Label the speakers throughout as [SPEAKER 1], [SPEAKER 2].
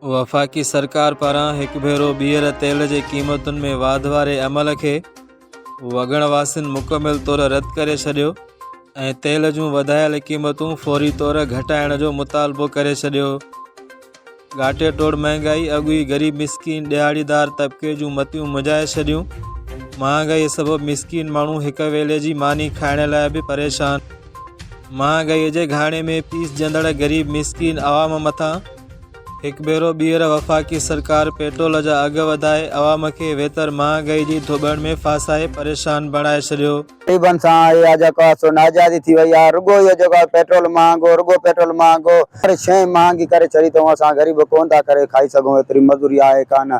[SPEAKER 1] وفاقي سرڪار پاران هڪ ڀيرو ٻيهر تيل جي قيمتن ۾ واڌ واري عمل کي وڳڻ واسين مڪمل طور رد ڪري ڇڏيو ۽ تيل جون وڌايل قيمتون فوري طور گهٽائڻ جو مطالبو ڪري ڇڏيو ڳاٽي ٽوڙ مهانگائي اڳوئي غريب مسڪين ڏهاڙيدار طبقي جون متيون مجائي ڇڏيون مهانگائي سبب مسڪين ماڻهو هڪ ويلي جي ماني کائڻ لاء به پريشان مهانگائيء جي گهاڻي ۾ پيسجندڙ غريب مسڪين عوام مٿان هڪ ڀيرو ٻيهر وفاقي سرڪار پيٽرول جا اگهه وڌائي عوام کي ويتر مهانگائي جي ڌوٻڻ ۾ ڦاسائي پريشان بڻائي ڇڏيو. غريبن سان اهي
[SPEAKER 2] آ جيڪو آ سو ناجائزي ٿي وئي آ رڳو اهو جيڪو آ پيٽرول مهانگو رڳو پيٽرول مهانگو هر شئي مهانگي ڪري ڇڏي اٿئون اسان غريب ڪونه ٿا ڪري کائي سگهون ايتري مزوري آهي ڪانه.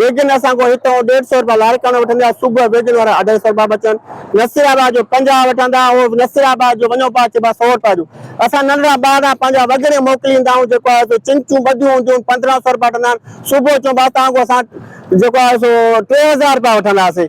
[SPEAKER 3] ويجن اسان کان هتان هو ڏيڍ سئو رپيا لاڙڪاڻو وٺندي آهي صبح ويجن وارا اڍائي سئو رپيا بچن نصير آباد جو پنجاهه وٺندا هو نصير آباد جو وڃو پاء چئبا سئو رپيا ڏيو اسان ننڍڙا ٻار آهيون پنهنجا وڳڻي موڪلي ايندا آهيون جيڪو آهي سو چمچون ٻڌيون هونديون آهن پندرهن سئو رپيا وٺندا آهن صبح چئبا اسان کان اسان جيڪو آهي سو ٽي هزار رپيا وٺندا سين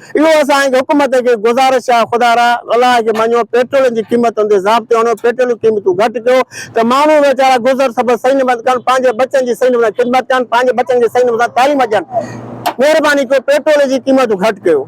[SPEAKER 3] اهو اسان حڪومت کي گذارش آهي خدا را الاء کي مڃو پيٽرولين جي قيمتن تي ضابطو آڻيو پيٽرولين قيمتون گهٽ ڪيو ته ماڻهو ويچارا گذر سبر صحيح نموني سان ڪن پنهنجي بچن جي صحيح نموني خدمت ڪن پنهنجي بچن کي صحيح نموني سان تعليم ڏين مهرباني ڪيو پيٽرولين جي قيمتون گهٽ ڪيو.